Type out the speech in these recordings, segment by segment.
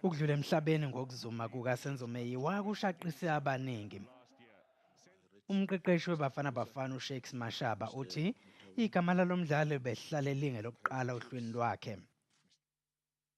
Ukudlula emhlabeni ngokuzuma kukaSenzo Meyiwa kushaqise abaningi. Umqeqeshi weBafana Bafana uShakes Mashaba uthi igama lalo mdlali behlale lingelokuqala ohlwini lwakhe.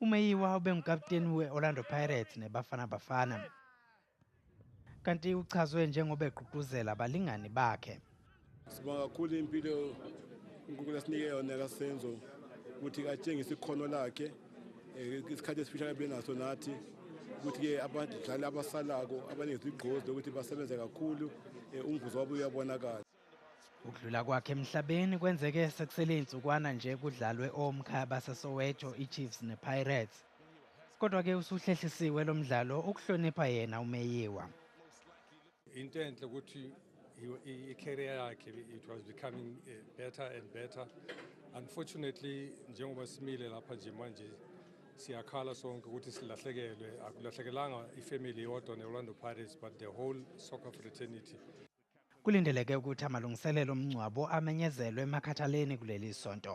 UMeyiwa ubengukaputeni we-Orlando Pirates neBafana Bafana kanti uchazwe njengoba egqugquzela abalingani bakhe. Sibonga kakhulu impilo uNkulunkulu asinike yona kaSenzo ukuthi atshengise ikhono lakhe eh, isikhathi esifishane benaso nathi ukuthi-ke abadlali abasalako abaningi sigqozi lokuthi basebenze kakhulu eh, umvuzo wabo uyabonakala Ukudlula kwakhe emhlabeni kwenzeke sekusele izinsukwana nje kudlalwe omkhaya baseSoweto iChiefs nePirates. Kodwa ke usuhlehlisiwe lo mdlalo ukuhlonipha yena uMeyiwa. Into enhle ukuthi i-career yakhe it was becoming eh, better and better. Unfortunately njengoba simile lapha nje manje siyakhala sonke ukuthi silahlekelwe akulahlekelanga ifamily yodwa ne-Orlando Pirates but the whole soccer fraternity Kulindeleke ukuthi amalungiselelo omngcwabo amenyezelwe eMakhathaleni kuleli sonto.